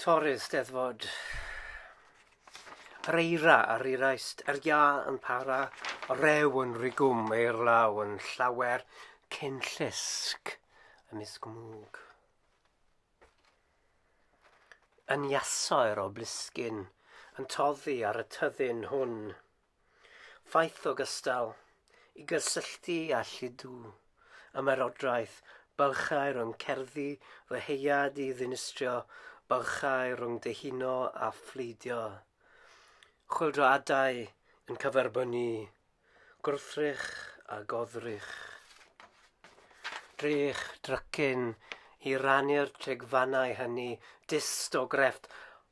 Torri'r Steddfod. Yr eira ar ei raist, yr ia yn para, y rew yn rigwm, eir law yn llawer, cyn llusg y misg mwg. Yn iasoer o blisgyn, yn toddi ar y tyddyn hwn. Faith ogystal, i gysylltu â lludw, ymerodraeth, bylchau rhwng cerddi fy heuad i ddinistrio bylchau rhwng dihuno a phleidio. Chwyldroadau yn cyferbynnu, gwrthrych a goddrych. Drych drycyn i rannu'r trigfannau hynny, dyst o grefft,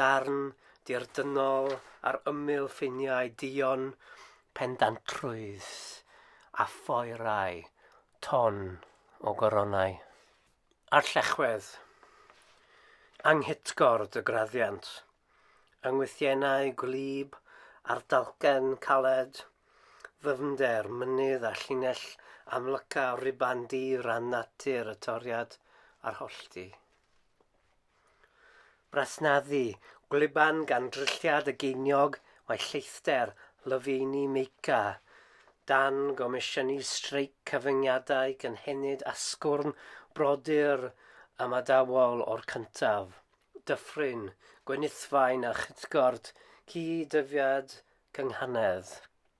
darn dirdynnol ar ymyl ffiniau duon pendantrwydd a phoerau ton o goronau. A'r llechwedd, anghitgord y graddiant, yng ngwythiennau gwlyb a'r dalcen caled, ddyfnder mynydd a llinell amlyca ruban di ran natur y toriad a'r hollti. Brasnaddu, gwlyban gan drylliad y geiniog, mae lleithder, Lofeini Meica, dan gomisiynu streic cyfyngiadau cynhenid asgwrn brodyr ymadawol o'r cyntaf, Dyffryn, Gwenithfaen a Chytgord, Cyd-ddyfiad Cynghanedd.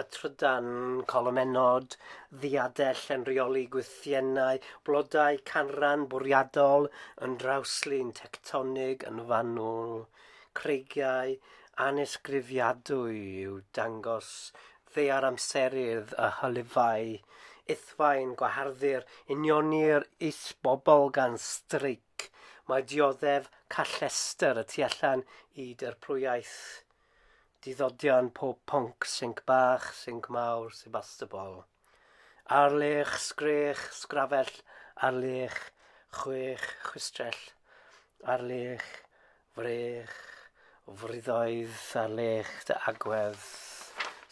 a trydan colomennod, ddiadell yn rheoli gwythiennau, blodau canran bwriadol yn drawslun tectonig yn fanwl, creigiau anesgrifiadwy i'w dangos ddaear amserydd a hylifau, ithfaen gwaharddu'r unioni'r is-bobl gan streic, mae dioddef callestr y tu allan i dirprwyaeth. Diddodion pob pwnc, sinc bach, sinc mawr, Sebastopol. Ar lech, sgrech, sgrafell, ar lech, chwech, chwistrell, ar lech, frech, fwriddoedd, ar lech, dy agwedd.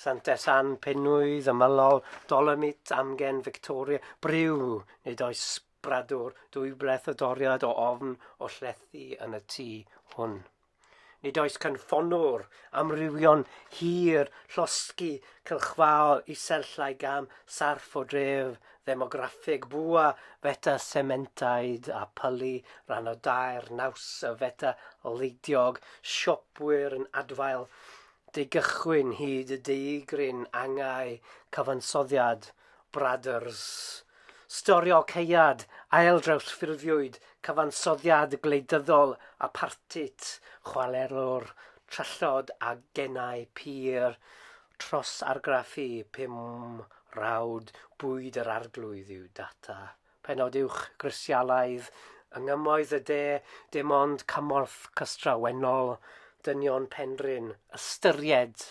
Santes Ann, Penwydd, Ymylol, Dolomit, Amgen, Victoria, Briw, nid oes bradwr, dwy bleth o doriad o ofn o llethu yn y tŷ hwn. Nid oes cynffonwr amrywion hir llosgi cylchfaol isellau gam sarff o dref ddemograffig bwa feta sementaid a pylu rhan o dair naws y feta leidiog siopwyr yn adfail deugychwyn hyd y deugryn angau cyfansoddiad Brothers. Stori o caead, ail-drawsffurfiwyd, cyfansoddiad gwleidyddol, apartheid, chwarelwr, trallod a genau pur, tros argraffu pum rawd bwyd yr Arglwydd yw data. Pennod uwch, grisialaidd, yng Nghymoedd y De, dim ond cymorth cystrawennol, dynion Penrhyn, ystyried!